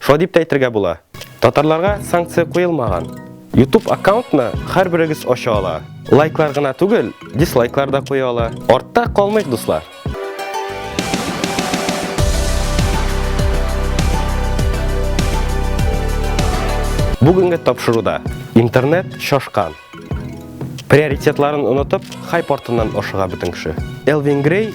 Шулай дип тә әйтергә була. Татарларга санкция куелмаган. YouTube аккаунтны һәрберегез ача ала. Лайклар гына түгел, дислайклар да куя ала. Артта калмыйк, дуслар. Бүгенге тапшыруда интернет шашкан. Приоритетларын онытып, хайп артыннан ашыга бөтен кеше. Элвин Грей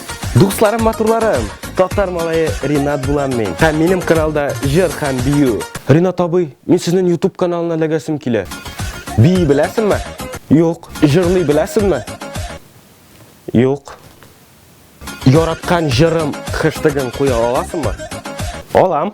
Дусларым матурларым, татар малае Ринат булам мин. Һәм минем каналда җыр һәм бию. Ринат абый, мин сезнең YouTube каналына ләгәсем килә. Бии беләсеңме? Юк. Җырлый беләсеңме? Юк. Яраткан җырым хэштегын куя аласыңмы? Алам.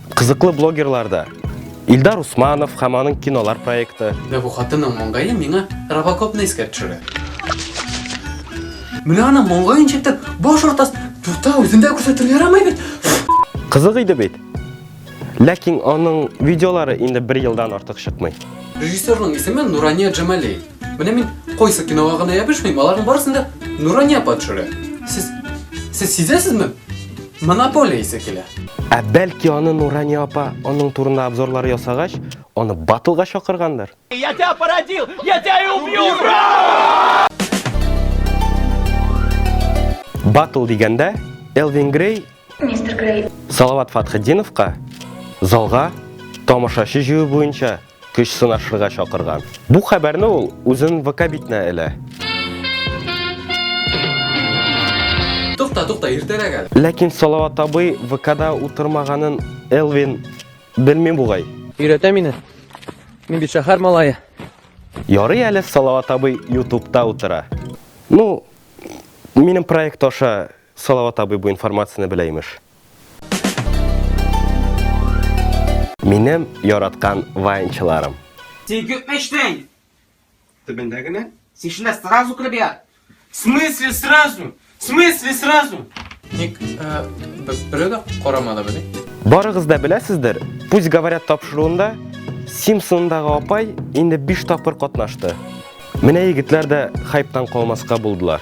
Кызыклы блогерлар да. Илдар Усманов һәм аның кинолар проекты. Дә бу хатының моңгайлы миңа Робокопны искә төшерә. Менә аны моңгай инчетеп, баш ортас тута үзендә күрсәтер ярамай бит. Кызык иде бит. Ләкин аның видеолары инде бер елдан артык чыкмый. Режиссерның исеме Нурания Джамали. Менә мин койсы кинога гына ябышмыйм, аларның барысын да Нурания апа төшерә. Сез сез сизәсезме? Монополия исе килә. Ә бәлки аны Нурания апа аның турында обзорлар ясагач, аны батлга чакыргандыр? Я тебя породил, я тебя и убью! Ура! Батл дигәндә Элвин Грей Мистер Грей. Салават Фатхетдиновка залга тамашачы җыю буенча көч сынашырга чакырган. Бу хәбәрне ул үзен ВК битенә элә. Тукта, тукта, иртәрәк әле. Ләкин Салават абый ВКда утырмаганын Элвин белми бугай. Өйрәтә мине. Мин бит шәһәр малае. Ярый әле Салават абый Ютубта утыра. Ну, минем проект аша Салават абый бу информацияне белә имеш. Минем яраткан ваенчыларым. Син күпме эчтең? Төбендә генә. Син шунда сразу кереп ят. В смысле сразу? В смысле сразу? Ник э, бере дә карамады бит. Барыгыз да беләсездер, пусть говорят тапшыруында Симпсондагы апай инде 5 тапкыр катнашты. Менә егетләр дә хайптан калмаска булдылар.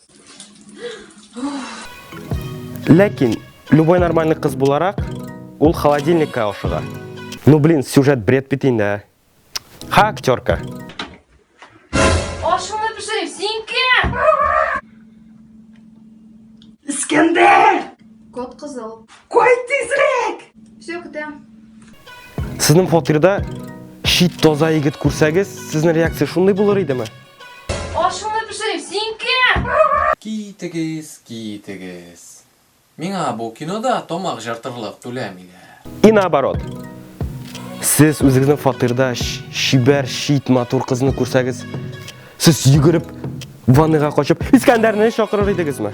Ләкин, любой нормальный кыз буларак, ул холодильникка ашыга. Ну, блин, сюжет бред бит инде, ә. Ха, актерка. Ашыңны пешерим, син кем? Искәндәр! Кот кызыл. Кой тизрәк! Все, көтәм. Сезнең фатирда шит таза егет күрсәгез, сезнең реакция шундый булыр идеме? Ашыңны пешерим, син кем? Китегез, китегез. Миңа бу кинода тамак җыртырлык түләмиләр. И наоборот. Сез үзегезнең фатирда чибәр, чит, матур кызны күрсәгез, сез йөгереп ванныйга качып Искәндәрне чакырыр идегезме?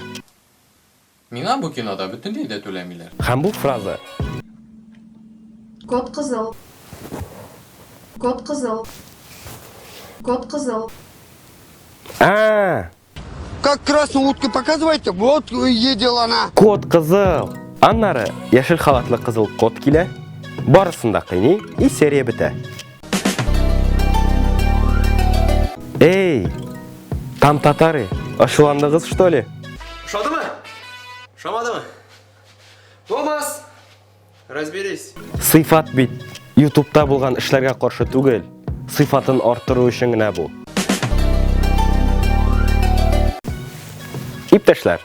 Миңа бу кинода бөтенләй дә түләмиләр. Һәм бу фраза. Код кызыл. Код кызыл. Код кызыл. А-а-а! Как красную утку показываете, вот едел она. Код кызыл. Аннары яшел халатлы кызыл код килә. Барысын да кыйный и серия бетә. Эй, там татары, ашуландыгыз что ли? Шадымы? Шамадымы? Томас, разберись. Сыйфат бит, ютубта булган эшләргә каршы түгел. Сыйфатын арттыру өчен генә бу. Иптәшләр,